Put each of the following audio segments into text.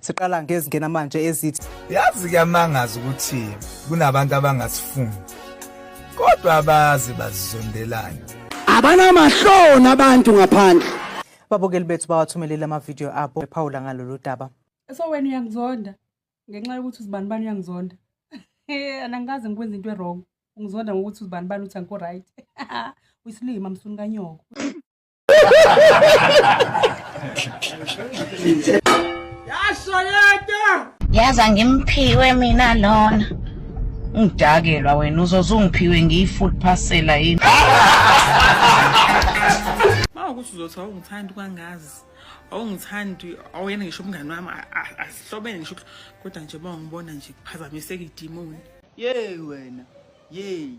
Siqala ngezingena manje ezithi yazi kuyamangaza ukuthi kunabantu abangasifuni kodwa abazi bazizondelana. Abanamahloni abantu ngaphandle. Babukeli bethu bawathumelele amavidiyo abo ephawula ngalolu daba. So wena uyangizonda ngenxa yokuthi uzibani bani uyangizonda. Eh anangikaze ngikwenza into ewrong. Ungizonda ngokuthi uzibani bani uthi angikho right. Uyisilima msuni kanyoko. yazi angimphiwe mina lona ngidakelwa wena uzoze ungiphiwe ngiyi-food parcela yini uma ukuthi uzothi awungithandi kwangazi awungithandi awuyena ngisho umngani wami asihlobene ngisho kodwa nje uma ungibona nje kuphazamiseka idimoni yeyi wena yeyi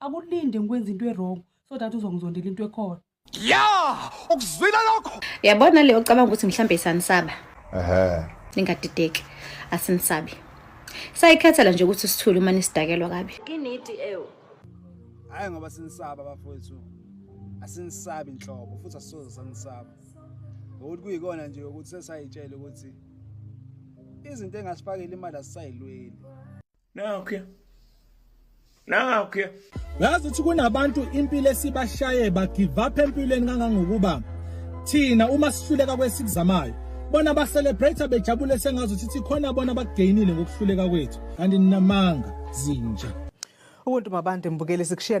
akulinde ngikwenza into e-wrong so that uzongizondela into ekhona ya ukuzwile lokho yabona leyo ocabanga ukuthi mhlawumbe isanisaba ehe ningadideki asinisabi sayikhethela nje ukuthi sithule uma nisidakelwa kabi kinidi ewu hayi ngoba sinisaba bafowethu asinisabi inhlobo futhi asisoze sanisaba ngokuthi kuyikona nje ukuthi sesayitshela ukuthi izinto engasifakela imali asisayilweli Nakho. Nakho. Yazi ukuthi kunabantu impilo esibashaye ba give up empilweni kangangokuba thina uma sihluleka kwesikuzamayo bona ba celebrate bejabule sengazi ukuthi khona bona bakugainile ngokuhluleka kwethu kanti ninamanga zinja. Ubuntu mabande mbukeli sikushiya